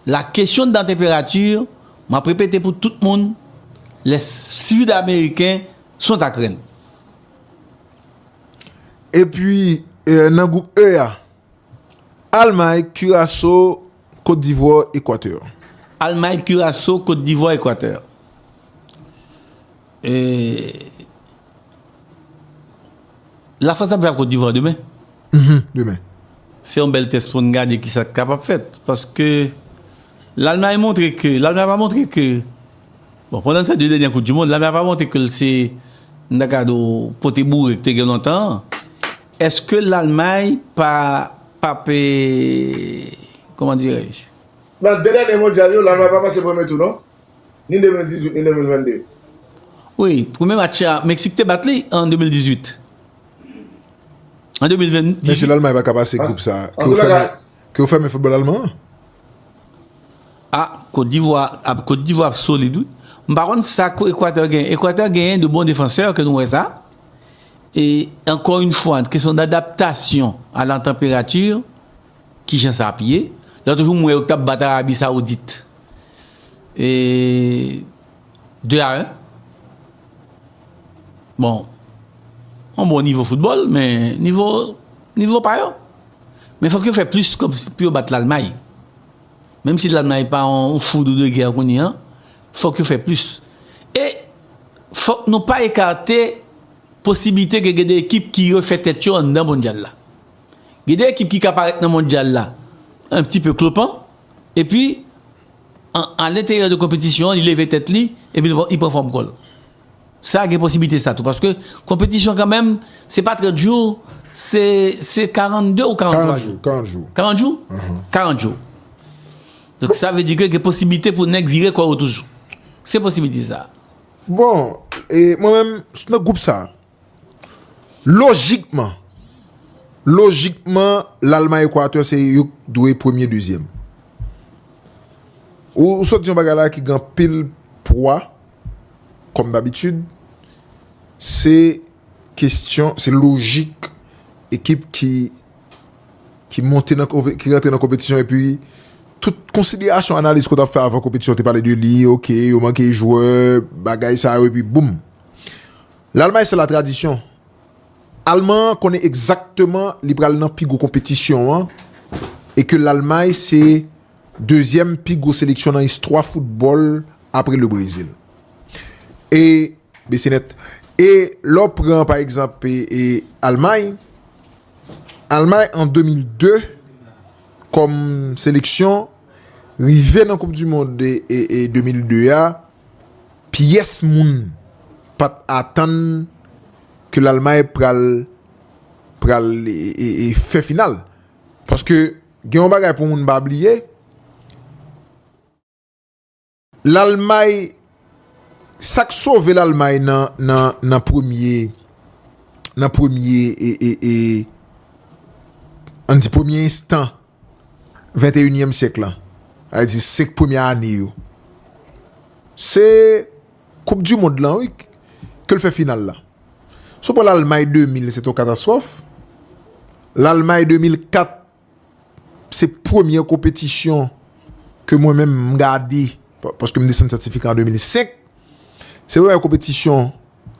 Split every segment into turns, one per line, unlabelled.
La question de la temperature, m ap repete pou tout moun, les sud americains sont ak rèn.
Epi nan gwoup E a. Almay, Kiraso, Kot Divwa, Ekwatè. Almay,
Kiraso, Kot Divwa, Ekwatè. La France ap jwe ak Cote d'Ivoire demen. Demen.
Se yon
bel test pou nou gade ki sa ki kapab fet. Paske l'Allemagne montre ke, l'Allemagne pa montre ke, bon pandan sa 2 dènye koup du mond, l'Allemagne pa montre ke l se m ta ka di w pote bourek te gen lontan an. Eske l'Allemagne pa pap e, koman dirè-je? Nan 2 dènye
mondyal yo, l'Allemagne pa pase premye tou non. ni 2018 ni 2022. Wi,
premye match la Meksik te bat li an 2018. An 2020. Men si Lalmay pa ka pase
gwoup sa, ke ou fèmen foutbòl alman an? A,
Kotdivwa ap solid wi. M pa konn sa Ekwatè gen. Ekwatè genyen de bon defansè ke nou wè sa. E ankò yon fwa, kesyon d'adaptasyon a la tanperati, ki jan sa ap ye. Lòt jou m wè yo k t ap bat Arabi Sawoudit. E 2 a 1 Bon Yon bon nivo foutbòl men Nivo pa yo Men fòk yo fè plis kòb pou yo bat lalmay Menm si lalmay pa yon foudou de gè kounye an Fòk yo fè plis E Fòk nou pa ekate Posiblite ke gen de ekip ki refè tèt yo anndan mondyal la Gen de ekip ki ka parèt nan mondyal la An ti pe klopan Epi, an alenteryè de konpetisyon an, li leve tèt li, epi li pran fòm kò l. Sa gen posiblite sa tou, paske konpetisyon kanmenm, se pa 30 jou, se 42 ou 43 jou? 40 jou. 40 jou?
40
jou. Donk sa vle di ke gen posiblite pou nèg vire kò yo toujou. Se posiblite sa. Bon,
e mwen menm, nan gwoup sa, Lojikman, lojikman Lalmay Ekwatè se yo k dwe premye dezyèm. Ou sot di yon bagay la ki gen anpil pwa kòm dabitid, se kestyon, se lojik ekip ki ki monte nan konpe, ki rantre nan konpetisyon epi tout konsiderasyon analiz ke w ta fè avan konpetisyon te pale de li, ok yo manke jwè, bagay sa yo epi boum. L'Allemagne c'est la tradition. Alman an konnen egzakteman li pral nan pi gwo konpetisyon an e ke L'Allemagne se dezyèm pi gwo seleksyon nan istwa foutbòl apre Le Brésil. E, bese nèt, e lè w pran pa egzanp e Allemagne, Allemagne an 2002 kòm seleksyon rive nan koup du mond e 2002 a, Pyès moun pa t atann ke Lalmay pral pral fè final. Paske gen yon bagay pou moun pa bliye, Lalmay, sa k sove Lalmay nan premye, nan premye, an n di premye enstan. venteyinyèm syèk lan, sa vle di 5 premye ane yo, se koup di mond lan wi ke l fè final la. Si w pran Lalmay 2000 se te yon katastwòf, Lalmay 2004 se premye konpetisyon ke mwen menm m gade paske m desann sètifika an 2005, se premye konpetisyon.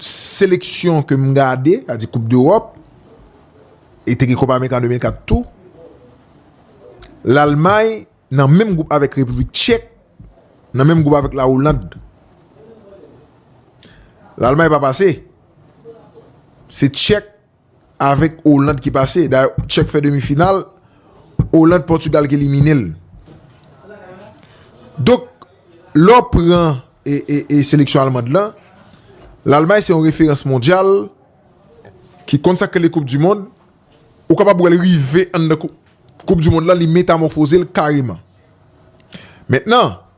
seleksyon ke m gade, sa di koup dEròp, e te gen koup Amerika an 2004 tou, Lalmay nan menm goup avèk Repiblik Tchèk, nan menm goup avèk Lawoland. Lalmay pa pase, se Tchèk, Avèk Oland ki pase. Dayè Tchèk fè demi final. Oland, Pòtugal ki elimine l. Donk, lè w pran e seleksyon Almand lan, Lalmay se yon referans mondyal ki konn sa k rele koup di mond. Ou kapab wè l rive anndan koup di mond lan li metamòfoze l kareman. Mentnan.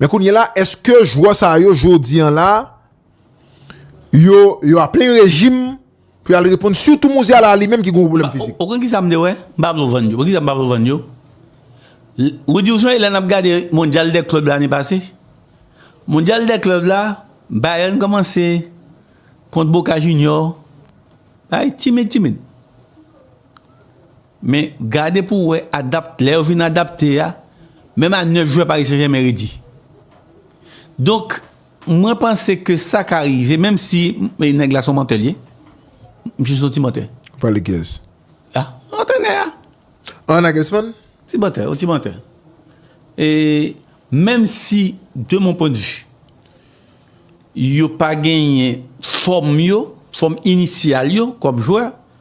Men kounye la eske jwè sa yo jodi an la yo yo a plen rejim pou yal reponn sitou Mouziala li menm ki gen yon pwoblèm fizik. Ou konn kisa m te wè? M
pa vle vann yo. Ou konn kisa m pa vle vann yo? Ou di ou sonje lè n ap gade mondyal dè klèb lane pase? Mondyal dè klèb la Bayern kòmanse kont Boca Junior, bagay timid timid. Men gade pou wè adapt lè yo vin adapte a menm a 9 jwè Paris Saint Germain redi. Donk mwen panse ke sa ka rive menm si nèg la son mantè li ye. Misye son ti mantè. Ou pale kiyès?
A,
antrenè a. An
Nagelsmann? Ti mantè, yon ti
mantè. E menm si de mon pwen de vue yo pa genyen fòm yo, fòm inisyal yo kòm jwè,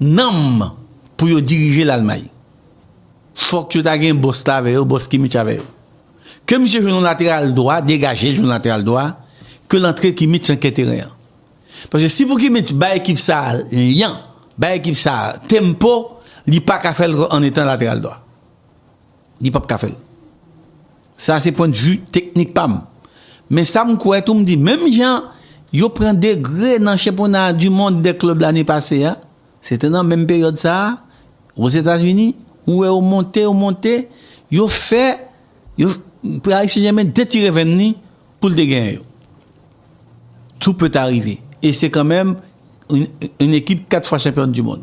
Nanm pou yo dirije Lalmay. Fòk yo ta gen bòs la avè yo, bòs Kimich avè yo. Ke misye jwenn yon lateral dwa, degaje l jwenn lateral dwa, ke l antre Kimich nan kè teren an. Paske si pou Kimich bay ekip sa a lyan, bay ekip sa a tempo, li pa ka fè l an etan lateral dwa. Li pap ka fèl. Sa se pwendvi teknik pam. Men sa m kwè tou m di menm jan yo pran degre nan chenpona du mond dè klèb lane pase a, se te nan menm peryòd sa a Ozetazini, ou wè yo monte, yo monte, yo fè yo Paris Saint-Germain detire venn li pou l te genyen yo. Tout peut arrive e se kanmenm un ekip 4 fwa chanpyòn du mond.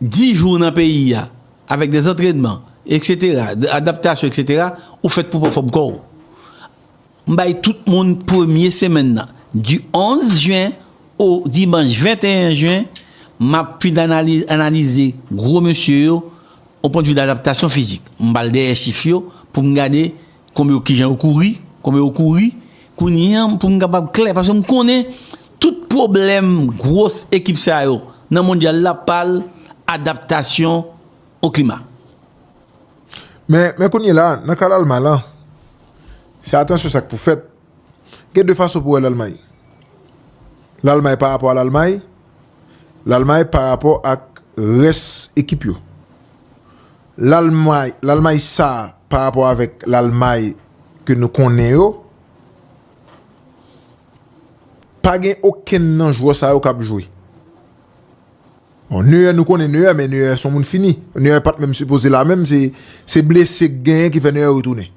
10 jou nan peyi a avèk de zantrenman etc de adaptasyon etc ou fèt pou pran fòm kòw m bay tout moun premye semèn nan du 11 jen o dimanch 21 jen map fin analize gro mesye yo o pwendvi dadaptasyon fizik m bal dèyè chif yo poum gade Konbe yo kijan yo kouri konbe yo kouri kounye an poum kapab klè paske m konnen tout pwoblèm gwos ekip sa yo nan mondyal la pa l adaptasyon o klima.
Men men kounye la a nan ka Lalmay lan se atansyon sa k pou fèt gen de fason pou wè Lalmay Lalmay pa rapò a Lalmay Lalmay pa rapò ak rès ekip yo Lalmay, Lalmay sa pa rapò avèk Lalmay ke nou konnen yo, pa gen okenn nan jwè sa yo k ap jwe. Bon, Neuer nou konnen Neuer, men Neuer son moun fini. Neuer pa t menm sipoze la menm, se, se blese k genyen ki fè Neuer retounen.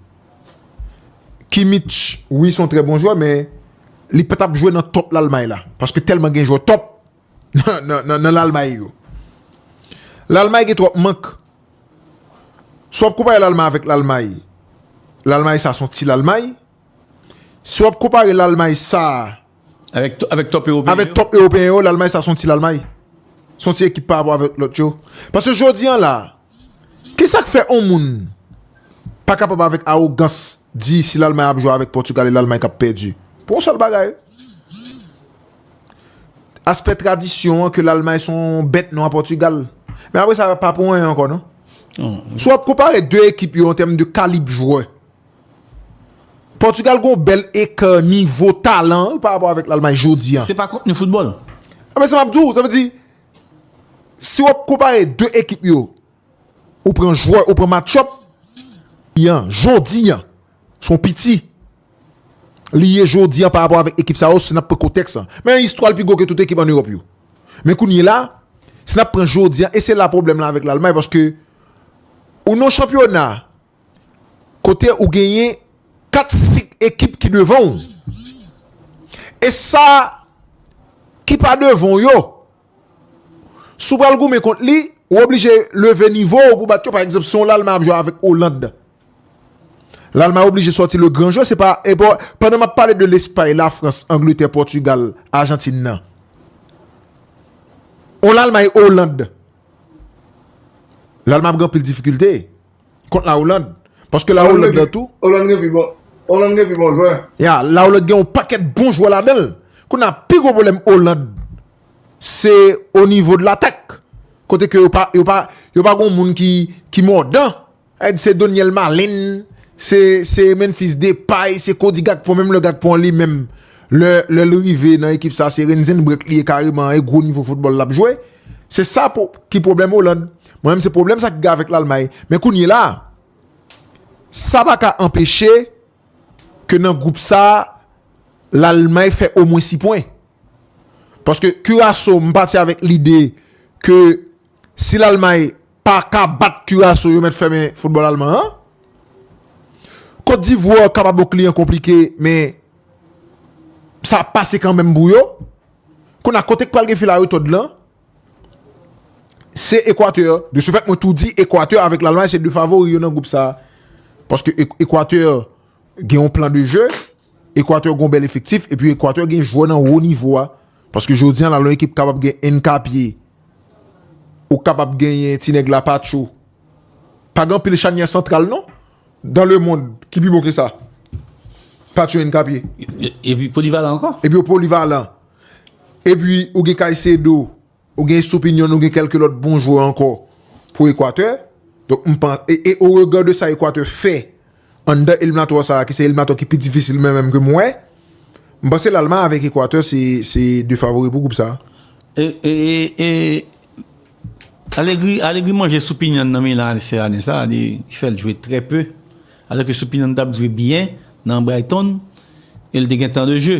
Kimmich, wi son trè bon jwè men li pa t ap jwe nan top Lalmay la, paske tèlman gen jwè top nan lalmay yo. Lalmay gen twòp mank. Si w ap konpare lalmay avèk lalmay, lalmay sa son ti lalmay. Si w ap konpare lalmay sa
avèk top ewopeyen yo,
lalmay sa son ti lalmay. Son ti ekip pa apò avèk lòt yo. Pase jodi an la, ki sa k fè on moun pa kapab avèk awogans di si lalmay ap jwe avèk pòtugal e lalmay k ap pèdi. Pou on sèl bagay. Aspè tradisyon an ke Lalmay se yon bèt nwa Pòtigal. Men apre sa, pa pou anyen ankò non. Si w ap konpare 2 ekip yo an tèm de kalib jwè, Pòtigal gen yon bèl ekè nivo talan pa rapò avèk Lalmay jodi an. Se pa kontni foutbòl.
A men sa m ap di w,
sa vle di, si w ap konpare 2 ekip yo, ou pran jwè, ou pran match up, jodi an, se yon piti. li ye jodi an pa rapò avèk ekip sa yo si n ap pran kontèks lan. Men istwa l pi gwo ke tout ekip an Ewòp yo. Men kounyela, si n ap pran jodi an e se la pwoblèm lan avèk Lalmay paske ou nan yon chanpyona kote ou genyen 4, 5 ekip ki devan w e sa ki pa devan w yo, Si w pral goumen kont li, ou oblije leve nivo ou pou bat yo. Pa egzanp, si yon Lalman ap jwe avèk Oland, Lalman oblije sòti le gran jwè. Se pa epo, pandan m ap pale de Lespay, Lafrans, Angletè, Pòtigal, Ajantin nan. Yon Lalmay, Oland, Lalman ap gen anpil difikilte. Kont la Hollande. Paske la Hollande gen tou. Hollande gen pi bon.
Hollande gen pi bon jwè. Ya, la Hollande gen yon
pakèt bon jwè la danl. Kou nan pi gwo pwoblèm Hollande. Se o nivo de l'atak. Kote ke yo pa, yo pa, yo pa gon moun ki, ki mòdan. Ed se Doniel Malin. Se, se Memphis Depay. Se Cody Gakpo. Menm lè Gakpo an li menm. Lè, lè li rive nan ekip sa se Renzenbrek li ye kareman. E gwo nivo foutbòl lap jwe. Se sa pou, ki pwoblèm Hollande. Mwen menm se pwoblèm sa ki gen avèk Lalmay. Men kounye la, sa pa ka anpeche ke nan gwoup sa a, Lalmay fè omwen 6 pwen. Paske Kiraso, m pati avèk lide ke si Lalmay pa ka bat Kiraso, yo mèt fèmen foutbòl Alman an. Kotdivwa kapab yon kliyan konplike, men sa ap pase kanmenm pou yo. Kounye a, kote k pral gen fil a retòd lan? Se Ekwatè, de se fèt mwen tou di Ekwatè avèk Lalmay se 2 favori yo nan gwoup sa. Paske Ekwatè gen yon plan de je, Ekwatè gen yon bèl efektif, epi Ekwatè gen jwè nan wo nivo a. Paske jodi an la lè yon ekip kapab gen Enkapye, ou kapab genyen ti nèg la Patcho. Pa gen anpil chanyè santral non, dan le mond ki pi bon ke sa. Patcho Enkapye. Epi polivalan
ankò. Epi yo polivalan.
Epi ou gen Caicedo, ou gen Estupiñan, ou gen kèlke lòt bon jwè ankò pou Ekwatè. Donk m panse, e o rega de sa Ekwatè fè anndan eliminatwa sa a ki se eliminatwa ki pi difisil menm menm ke m wè, m panse Lalmay avèk Ekwatè se 2 favori pou gwoup sa
a. E Allegri manje Estupiñan nan Milan AC ane sa a, li fè l jwe trè pe, alò ke Estupiñan t ap jwe byen nan Brighton e l te gen tan de je.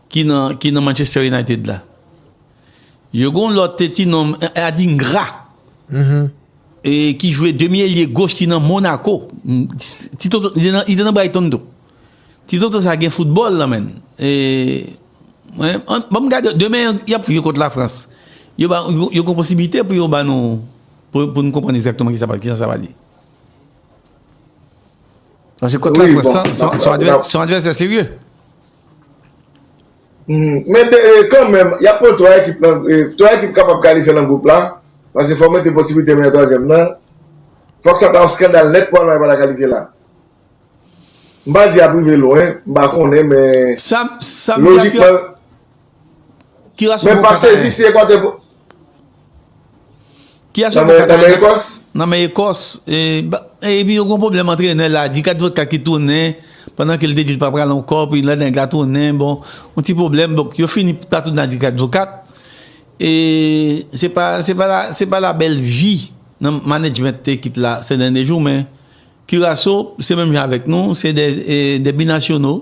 Ki nan ki nan Manchester United la. Yo gon lòt te ti nom Adingra. E ki jwe demi elye goch ki nan Monaco. Ti toto li te nan li te nan Brighton tou. Ti toto sa gen football nan menn. E mwen banm gade demen yap jwe kont la France. Yo ba yo gon posibilite pou yo ba nou pou nou konprann egzakteman kisa kijan sa pral ye. Paske kont la France lan son advèsè serye.
Men kan menm, y ap pran 3 ekip nan, 3 ekip kapab kalifye nan gwoup la, paske fò w mete posiblite meyè twazyèm nan, fòk sa ta yon skandal nèt pou Almay pa ta kalifye la. M pa di y ap rive lwen, m pa konnen men,
lojikman.
Ki
rasyon pou kaka a ye? Ki rasyon pou kaka a ye? Nan men Ekòs. E pi yo gon pwoblèm antrenè la. Di kat vodka ki tounen. Pandan ke l te di l pa pral ankò. Pi lè nèg la tounen. Bon. Yon ti pwoblèm. Donk yo fini pa tounen ak di kat vodka. E se pa, se pa la, se pa la bèl vi nan manedjment ekip la sè dènye jou. Men Kiraso se menm jan avèk nou. Se de binasyonò.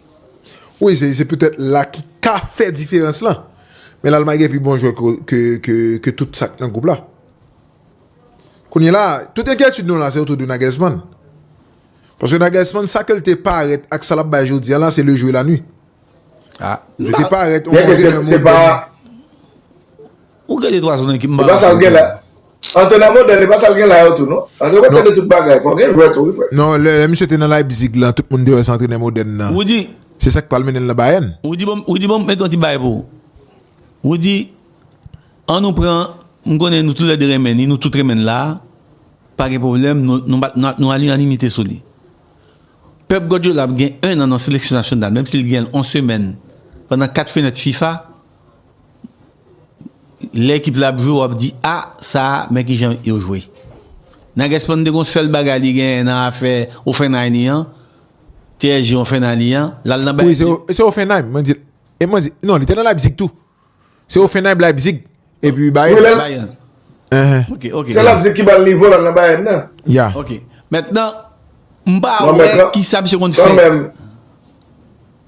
Wi se petèt la ki ka fè diferans lan men lalmay gen pi bon jwè ke tout sak nan gwoup la kounye la tout enkyetid nou la se otou de Nagelsman paske Nagelsman sa ke l te parèt ak sa l ap bay jodi an la se le jou e la nwi
li te parèt Ou gade twa zone ki mba ranse nan tèt.
Antènè modèn e pa sa l gen la yo tou non. Paske ou pa tande tout bagay. Fò w gen jwè tou wi frè. Non lè misye te nan
Leipzig lan tout moun te wè se antrenè modèn nan. Rudy. Se sa
k pral mennen l nan
Bayern. Rudy banm met
yon ti bagay pou ou. Rudy an nou pran m konnen nou tou lè 2 renmen li nou tout renmen l la a pa gen pwoblèm nou a linanimite sou li. Pep Guardiola ap gen 1 an nan seleksyon nasyonal menm si l gen l 1 semèn pandan 4 fenèt fifa. Lè ekip la ap jwe wap di a sa men kijan yo jwe. Nagelsmann te gon sèl bagay li genyen nan afè Hoffenheim li an, PSG Hoffenheim li an, lal nan Bayern. Wi se Hoffenheim
mwen di. E mwen di non li te nan Leipzig tou. Se Hoffenheim Leipzig epi Bayern. Ok ok. Se Leipzig
ki bal
nivo lal nan Bayern nan. Ya. Ok.
Mentnan
mpa wè kisa misye konn fè.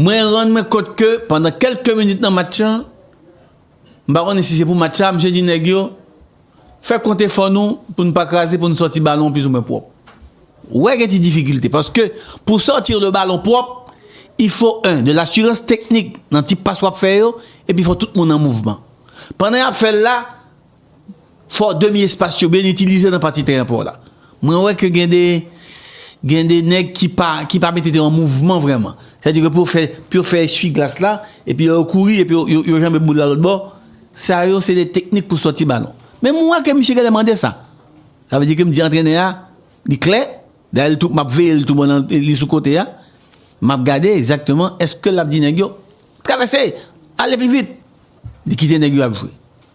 Mwen rann mwen kont ke pandan kelke minit nan match lan, m pa konnen si se pou match sa, misye di nèg yo, fè kont efò nou pou nou pa kraze, pou nou sòti balon an plis ou mwen pwòp. Ou wè gen ti difikilte, paske pou sòti le balon pwòp, il fo 1 de lasurans teknik nan ti pas w ap fè yo, epi fò tout moun an mouvman. Pandan y ap fè l la. Fò demi espas yo byen itilize nan pati teren pa w la. Mwen wè ke gen de gen de nèg ki pa ki pa mete teren an mouvman vrèman. Sa vle di ke pou yo fè pou yo fè esui glas la epi lè yo kouri epi yo yo janbe boul la lòt bò. Sa yo se de teknik pou sòti balon. Men mwen wè ke misye genlè mande sa. Sa vle di ke m di antrenè a li klè. Dayè li tou m ap veye li tou pandan li sou kote a. M ap gade egzakteman eske l ap di nèg yo travèse! Ale pi vit! Li kite nèg yo ap jwe.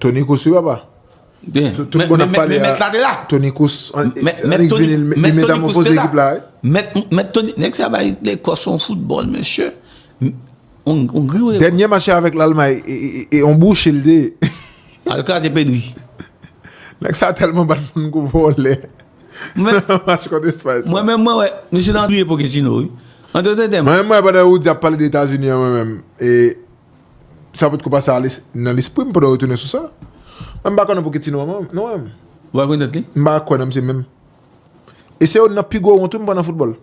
Tony
Cruz wi papa. Bien. Tout
bon ap pale
a. Tony Cruz. Mèt Tony Cruz te la. Mèt Tony.
Nèk sa bay le kòs on foutbòl mesye. On gri ou. Dènyè machè avèk
l'Almay. E on bouch il de. Al kras
e pedri. Nèk sa
telman bat moun kou vòlè. Mwen. Match kont Espay. Mwen men mwen wè. Mesye
nan. Priye pou Kechino wi. Mwen men mwen wè pandan ou di ap pale
de Etazini an mwen men. E. Sa potko pase ale nan lespri m pandan w retounen sou sa. Men m pa konnen pouki Tino renmen m, nou wè m. Ou pa kwè nan tèt li? M
pa kwè nan misye menm.
E se youn nan pi gwo wont wi m pandan foutbòl.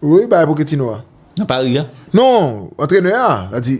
Wi, bagay Poketino a.
Nan
Pari a? Non,
antrenè
a, sa di.